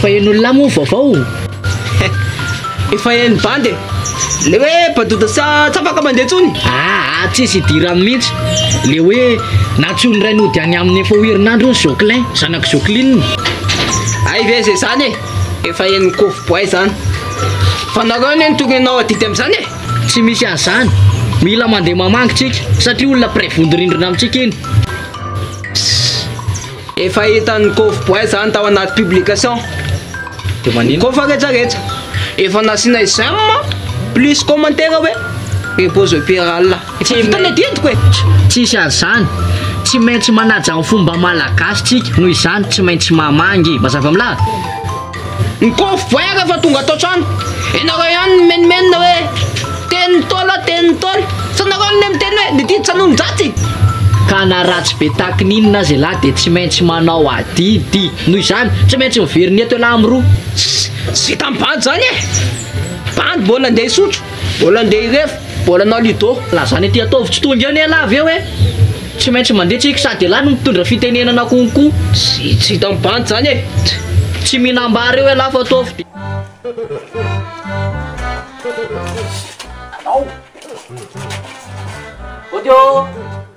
Fa eny olona moa vaovao eh. Efa eny bandy e. Le hoe badoda sa tsy afaka mandeha tsony. Aa ah, tsisy idirany mintsy. Le hoe nantsoin'ny rainy hody any aminy efa ho herinandro ny zoclin, zanak'i zocline. Hay ve ze zany e. Efa eny kofo boay zany. Fa nareo anie no tokony hanao adidy amzany e. Tsy misy anzany. Mila mandeha mamangy tsika satria olona mpiray vondorindrina amitsika iny. Efa hitan'ny Koffi Boy zany tao anaty publication. De manino? Koa fa rejareja. Efa nasiana j'aime plus commentaire hoe repose paix ry Allah. Efa vita ny adidiko e. Tsisy an'izany. Tsy maintsy manaja ny fomba malagasy tsika, noho izany tsy maintsy mamangy. Mazava milaza? Ny kôfy boaire efa tonga ato an-trano. Ianareo ihany no mimenomenona hoe teny Ntaolo, teny Ntaolo. Tsy nareo anie miteny hoe ny didy tsy hanononjatsy. Ka na ratsy be tahaka ny inona aza ialahy dia tsy maintsy manao adidy. Noho izany, tsy maintsy miverina eto ialahy miroa. Tsy vita amin'ny bandy izany e! Bandy mbola andeha hisotro. Mbola ndeha hiref bola anao Ludo. Lazany aty ataovy tsy tonga eo nelah avy eo e! Tsy maintsy mandeha tsika sady elah no mitondra fitenenana konko. Tsy tsy hita am bandy zany e! Tsy mihinambary eo elah fa ataovy de. Anao. Audio.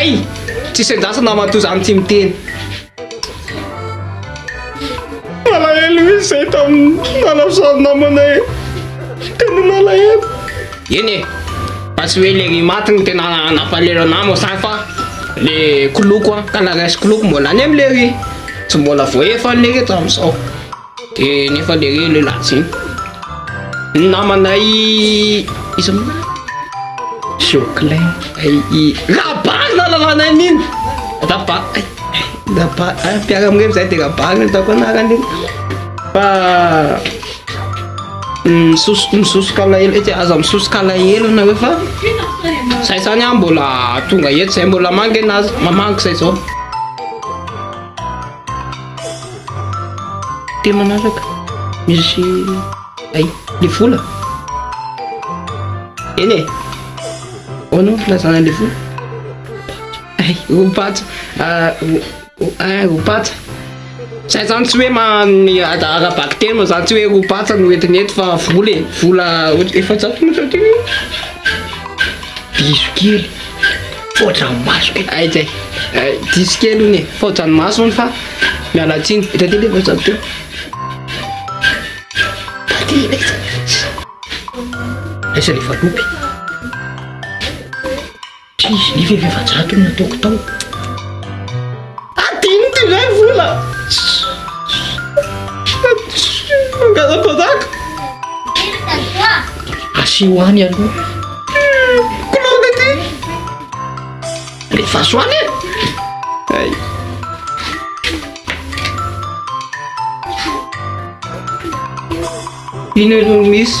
Ay! Tsisy andrasa namatoa zany tsy miteny. Malahelo misy zay tamin'ny nanafosany namana e. Tena malahelo. Eny e. Fa tsy hoe le maty no tena nampalahelo anah mo sa fa le koloko an, ka la resy koloko mbola any am le riz. Tsy mbola voaefa le reto am'zao. De nefa le le latsy Ny namanay Iza moa marina Joclin Rabary na lalanay mino Rabary Rabary Mpiara mirevy zay de rabary no ataoko anarany Fa Misosoka alahelo etsy Aza misosoka alahelo nareo fa Zay zany an mbola tonga eto zay mbola mangina aza Mamangy zay zao Dia manaraka Merci Ay, le vola Eny e Ahoana no filazana le vola Ay, ho patsa Ah, ho- ho- ah, ho patsa Zay zany tsy hoe ma- ny ada- ara-bakiteny moa zany tsy hoe ho patsa no entina eto fa vola e Vola ohatr- efajato no sady Bisous kely Mipoitra ny maso kay. Ay kay. Ay diso kely hono e. Mipoitra ny maso hono fa miala tsiny. Eto aty le voatsabo teo. Aty le. Aiza le valopy? Try, nefa efa efajato no nataoko tao. Adino ty indray vola. Mangaza-panjaka. Asio any aloha. Kolonga ty. Rehefa azo any e. Ino aloha misy.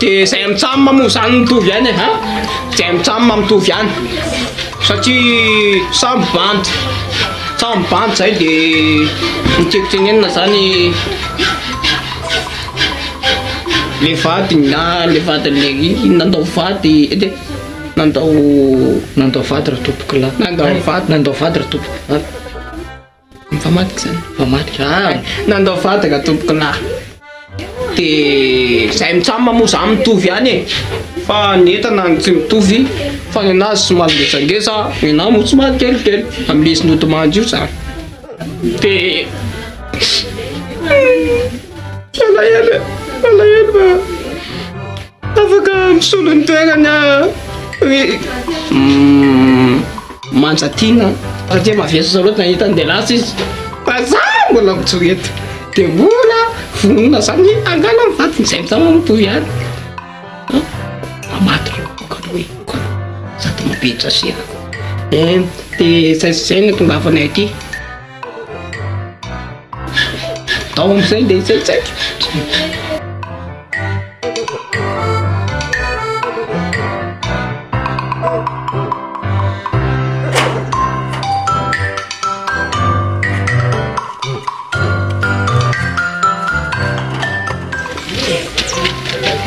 De zay mitsam moa zany mitovy ihany e an! Zay mitsam mitovy ihany satria samy bandy samy bandy zay de ny tiako tenenina zany le vadiny na le vadiny le izy nandao vady de nandao nandao vady ratompokolahy nandao vady nandao vady ratompokolahy. Mifamadika zany. Mifamadika. Ah, nandao vadaka tompoko lahy. De zay mitsama moa za mitovy ihany e. Fa ny entana no tsy mitovy fa ny anazy somary ngezangeza, ny anahy moa somary kelikely amin'izy nodimandry io zany. De Malahelo, malahelo. Afaka misolo ny toerany aho ry Manjatiana satria mavesatra loatra ny hitany dia lasa izy fa za mbola mijoro eto dia mbola vonona zany hangala ny vadiny izay mitana ny boy ihany fa maty ireo kalo hoe kalo za tena be traserako dia izay sy izay no itongavanay aty. Tao amin'izay dia izay tsaiko.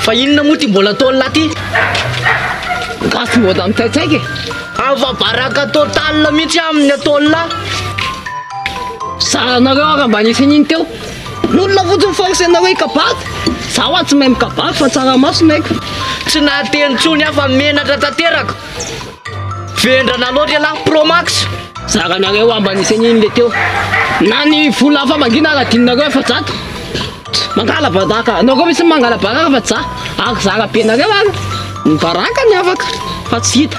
Fa inona moa ty mbola ataon'lah ty? Gasy mbola mitsaitsaika e. Ava baraka total mihitsy aho amin'ny ataon'lah. Zahanareo ary mba nisy an'iny teo. N'olona fotsiny force nareo hikabary. Zaho ary tsy mahay mikabary fa tsaramaso no haiko. Tsy nahateny intsony aho fa menatra tanteraka. Vendrana loatra ialahy pro max. Zaranareo ary mba nisy an'iny le teo. Na ny vola famangina ary adinonareo efajato. Mangalabadaka anao koa misy mangalabadaka fa za ako zara be nareo ary ny baraka ny afaka fa tsy hita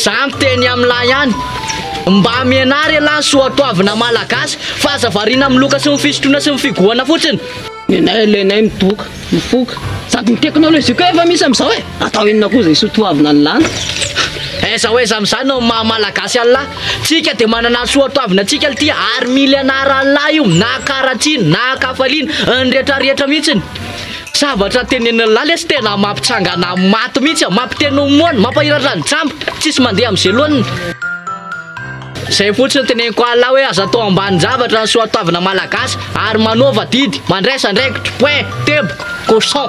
za miteny amla ihany mba miena ary elah ny soatoavina malagasy fa aza variana amin'ny loka sy ny fisotroana sy ny figohana fotsiny nenay aloha enay midoka mifoka sady ny teknolojia koa efa misy amizao e atao inona koa zay sotoavina ny lany aiza ho aiza amizany no maha malagasy anla Tsika dia manana soatoavina antsika lty ary mily anaran'lah io na karatsina na kafaliana ny rehetra rehetra mihitsy ny zavatra tenenin'lah lesy tena mampitsangana maty mihitsy a mampiteny ho moana mampahiratra ny jamba tsisy mandeha am'zay loaniny zay fotsiny teneniko alah hoe aza atao ambanin-javatra ny soatoavina malagasy ary manaova didy mandraisa andraikitry point teboka cochon